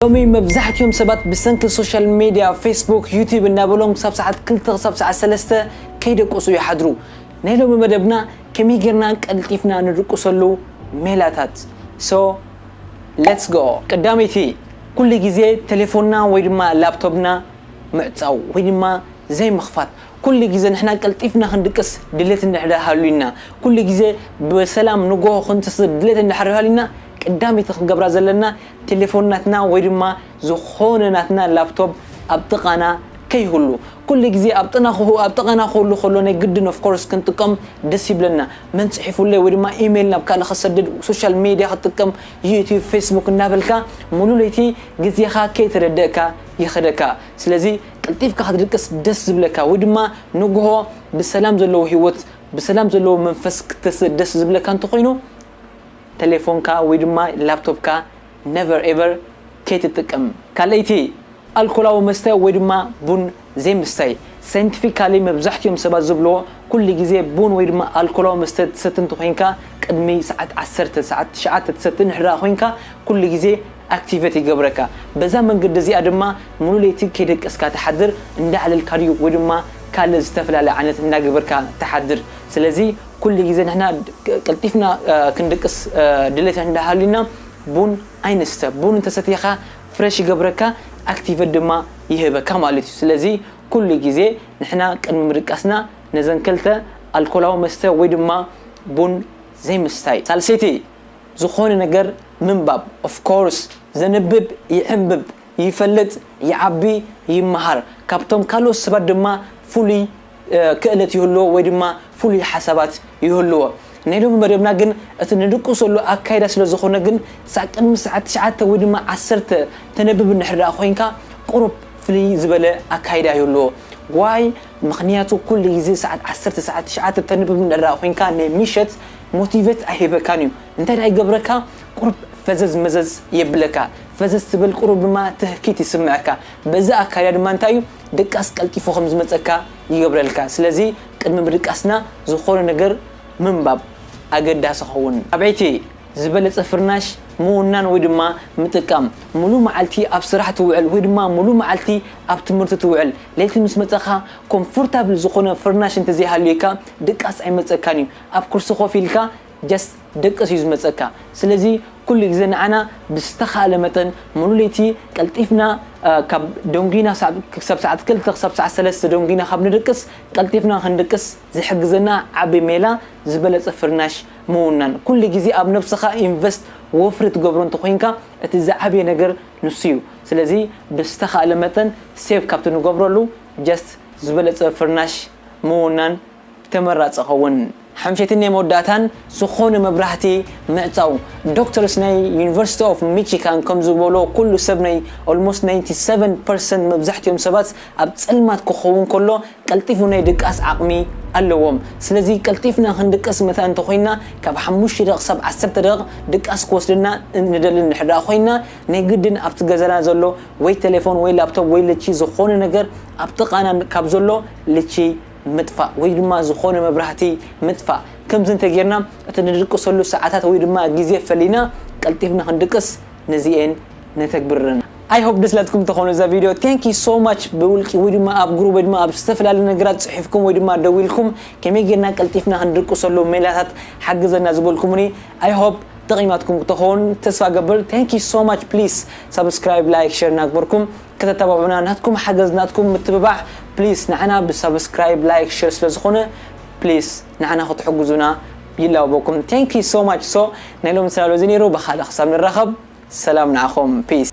ሎሚ መብዛሕቲኦም ሰባት ብሰንኪ ሶሻል ሜድያ፣ ፌስቡክ፣ ዩቲብ እናበሎም ክሳብ ሰዓት ክልተ ክሳብ ሰዓት ሰለስተ ከይደቀሱ ይሓድሩ። ናይ ሎሚ መደብና ከመይ ጌርና ቀልጢፍና ንድቅሰሉ ሜላታት so let's go። ቀዳመይቲ ኩሉ ግዜ ቴሌፎንና ወይ ድማ ላፕቶፕና ምዕጻው ወይ ድማ ዘይምኽፋት። ኩሉ ግዜ ንሕና ቀልጢፍና ክንድቅስ ድሌት እንድሕር ሃልዩና፣ ኩሉ ግዜ ብሰላም ንጎሆ ክንትስእ ድሌት እንድሕር ሃልዩና ቀዳመይቲ ክንገብራ ዘለና ቴሌፎን ናትና ወይ ድማ ዝኾነ ናትና ላፕቶፕ ኣብ ጥቓና ከይህሉ። ኩሉ ግዜ ኣብ ጥቓና ክህሉ ከሎ ናይ ግድን of course ክንጥቀም ደስ ይብለና። መን ጽሒፉለይ ወይ ድማ ኢሜይል ናብ ካልእ ክሰድድ ሶሻል ሜድያ ክጥቀም ዩትዩብ ፌስቡክ እናበልካ ሙሉ ለይቲ ግዜኻ ከይተረደእካ ይኸደካ። ስለዚ ቀልጢፍካ ክትድቅስ ደስ ዝብለካ ወይ ድማ ንግሆ ብሰላም ዘለዎ ህይወት ብሰላም ዘለዎ መንፈስ ክትተስእ ደስ ዝብለካ እንተኾይኑ ተሌፎንካ ወይ ድማ ላፕቶፕካ never ever ከይትጥቀም። ካልኣይቲ፣ ኣልኮላዊ መስተ ወይ ድማ ቡን ዘይምስታይ። Scientifically መብዛሕቲኦም ሰባት ዝብልዎ ኩሉ ግዜ ቡን ወይ ድማ ኣልኮላዊ መስተ ትሰቲ እንተኾይንካ ቅድሚ ሰዓት ዓሰርተ፣ ሰዓት ትሽዓተ ትሰቲ እንድሕርኣ ኮይንካ ኩሉ ግዜ Activate ይገብረካ። በዛ መንገዲ እዚኣ ድማ ሙሉእ ለይቲ ከይደቀስካ ትሓድር፣ እንዳዕለልካ ድዩ ወይ ድማ ካልእ ዝተፈላለየ ዓይነት እንዳገበርካ ትሓድር። ስለዚ ኩሉ ግዜ ንሕና ቀልጢፍና ክንድቅስ ድሌት እንዳ ሃልዩና ቡን ኣይንስተ። ቡን እንተ ሰቲኻ ፍረሽ ይገብረካ ኣክቲቨት ድማ ይህበካ ማለት እዩ። ስለዚ ኩሉ ግዜ ንሕና ቅድሚ ምድቃስና ነዘን ክልተ ኣልኮላዊ መስተ ወይ ድማ ቡን ዘይምስታይ። ሳልሰይቲ ዝኾነ ነገር ምንባብ of course ዘንብብ ይዕምብብ፣ ይፈልጥ፣ ይዓቢ፣ ይመሃር፣ ካብቶም ካልኦት ሰባት ድማ ፍሉይ ክእለት ይህልዎ ወይ ድማ ፍሉይ ሓሳባት ይህልዎ። ናይ ሎሚ መደብና ግን እቲ ንድቅሰሉ ኣካይዳ ስለ ዝኾነ ግን ክሳዕ ቅድሚ ሰዓት ትሽዓተ ወይ ድማ ዓሰርተ ተነብብ እንድሕር ደኣ ኮይንካ ቁሩብ ፍልይ ዝበለ ኣካይዳ ይህልዎ። ዋይ ምኽንያቱ ኩሉ ግዜ ሰዓት ዓሰርተ ሰዓት ትሽዓተ ተንብብ እንድሕር ደኣ ኮይንካ ናይ ምሸት ሞቲቨት ኣይህበካን እዩ እንታይ ደኣ ይገብረካ ቁሩብ ፈዘዝ መዘዝ የብለካ ፈዘዝ ትብል ቁሩብ ድማ ትህኪት ይስመዐካ በዚ ኣካይዳ ድማ እንታይ እዩ ድቃስ ቀልጢፉ ከም ዝመጸካ ይገብረልካ። ስለዚ ቅድሚ ምድቃስና ዝኾነ ነገር ምንባብ ኣገዳሲ ይኸውን። ኣበይቲ ዝበለጸ ፍርናሽ ምውናን ወይ ድማ ምጥቃም። ምሉእ መዓልቲ ኣብ ስራሕ ትውዕል ወይ ድማ ምሉእ መዓልቲ ኣብ ትምህርቲ ትውዕል። ለይቲ ምስ መጸኻ ኮምፎርታብል ዝኾነ ፍርናሽ እንተዘይሃልዩካ ድቃስ ኣይመጸካን እዩ። ኣብ ኩርሲ ኮፍ ኢልካ just ደቅስ እዩ ዝመጸካ ስለዚ ኩሉ ግዜ ንዓና ብዝተካእለ መጠን ሙሉ ለይቲ ቀልጢፍና ካብ ደንጉይና ክሳብ ሰዓት ክልተ ክሳብ ሰዓት ሰለስተ ደንጉይና ካብ ንድቅስ ቀልጢፍና ክንድቅስ ዝሕግዘና ዓቢ ሜላ ዝበለጸ ፍርናሽ ምውናን ኩሉ ግዜ ኣብ ነብስካ invest ወፍሪ ትገብሮ እንተኮይንካ እቲ ዝዓበየ ነገር ንሱ እዩ ስለዚ ብዝተካእለ መጠን save ካብቲ ንገብረሉ just ዝበለጸ ፍርናሽ ምውናን ተመራጺ ኸውን። ሓምሸትን ናይ መወዳእታን ዝኾነ መብራህቲ ምዕጻው። ዶክተርስ ናይ ዩኒቨርሲቲ ኦፍ ሚቺካን ከም ዝበልዎ ኩሉ ሰብ ናይ ኦልሞስት ናይንቲ ሰቨን ፐርሰንት መብዛሕቲኦም ሰባት ኣብ ጸልማት ክኸውን ከሎ ቀልጢፉ ናይ ድቃስ ዓቕሚ ኣለዎም ስለዚ ቀልጢፍና ክንድቅስ መታን እንተኾይንና ካብ ሓሙሽተ ደቕ ክሳብ ዓሰርተ ደቕ ድቃስ ክወስደና ንደሊ እንድሕርድኣ ኮይንና ናይ ግድን ኣብቲ ገዛና ዘሎ ወይ ቴሌፎን ወይ ላፕቶፕ ወይ ልቺ ዝኾነ ነገር ኣብ ጥቓና ካብ ዘሎ ልቺ ምጥፋእ ወይ ድማ ዝኾነ መብራህቲ ምጥፋእ። ከምዚ እንተጌርና እቲ ንድቅሰሉ ሰዓታት ወይ ድማ ግዜ ፈሊና ቀልጢፍና ክንድቅስ ነዚኤን ነተግብር ኣለና። I hope ደስ ኢላትኩም ትኾኑ እዛ ቪድዮ። Thank you so much ብውልቂ ወይ ድማ ኣብ ግሩብ ወይ ድማ ኣብ ዝተፈላለዩ ነገራት ጽሒፍኩም ወይ ድማ ደዊልኩም ከመይ ጌርና ቀልጢፍና ክንድቅሰሉ ሜላታት ሓግዘና ዝበልኩሙኒ I hope ጠቂማትኩም ክትኾን ተስፋ እገብር Thank you so much please subscribe like share እናግበርኩም ከተታባብዑና ናትኩም ሓገዝ ናትኩም ምትብባዕ ፕሊስ ንዓና ብሳብስክራይብ ላይክ ሸር ስለ ዝኾነ ፕሊስ ንዓና ክትሕግዙና ይላበበኩም thank you so much so ናይ ሎሚ ጽላሎ እዚ ኔሩ ብኻልእ ክሳብ ንራኸብ ሰላም ንዓኹም peace።